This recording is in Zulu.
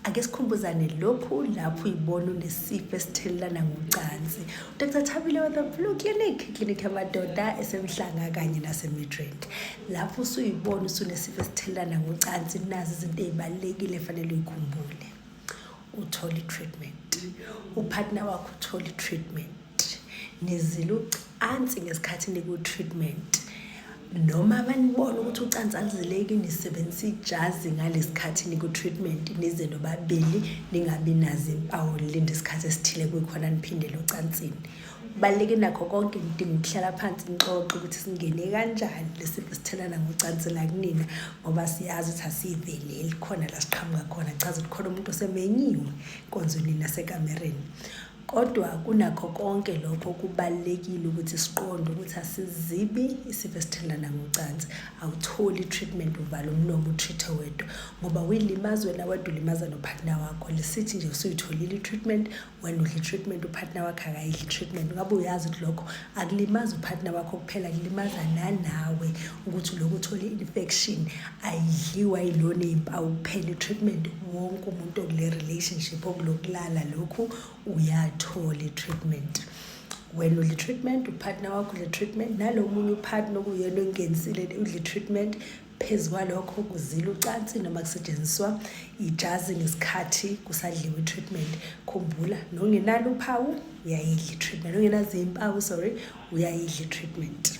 ake sikhumbuzane lokhu lapho uyibona unesifo esithelelana ngocansi udr thabile weather flu clinic clinic yamadoda esemhlanga kanye nasemidrand lapho usuyibona usunesifo esithelelana ngocansi nazi izinto ey'balulekile efanele uyikhumbule uthole i-treatment uphathina wakho uthole i-treatment nizile ucansi ngesikhathi niku-treatment noma banibona ukuthi ucansi aluzileki nisebenzisa ijazi ngalesi khathi niku-treatment nize nobabili ningabi nazo impawu nilinde isikhathi esithile kuyikhona niphindele ocansini kubaluleke nakho konke ngidinga ukuhlala phansi ngixoxe ukuthi singene kanjani lesifo sithelana ngocansi la kunina ngoba siyazi ukuthi asiyiveleli khona la siqhamuka khona chaza ukuthi khona umuntu osemenyiwe nkonzweni nasekamereni Kodwa kunakho konke lokho kubalulekile ukuthi siqonde ukuthi asizibi isifo esithelelana ngocansi. Awutholi i-treatment uvala umlomo utreat-e wedwa ngoba uyilimaza wena wedwa ulimaza nopartner wakho. Lisithi nje usuyitholile i-treatment, wena udla i-treatment upartner wakho akayidli i-treatment. Ngabe uyazi ukuthi lokho akulimazi upartner wakho kuphela kulimaza nanawe ukuthi lokhu uthole i-infection ayidliwa yilona iy'mpawu kuphela i-treatment wonke umuntu okule relationship okulokulala lokhu uyathola i-treatment wena udle treatment upartner wakho udle treatment nalo munye upartner okuyena ongenzile udle treatment phezu kwalokho kuzila ucansi noma kusetshenziswa ijazi ngesikhathi kusadliwa i-treatment khumbula nongenalo uphawu uyayidla i-treatment ongenazo impawu sorry uyayidla i-treatment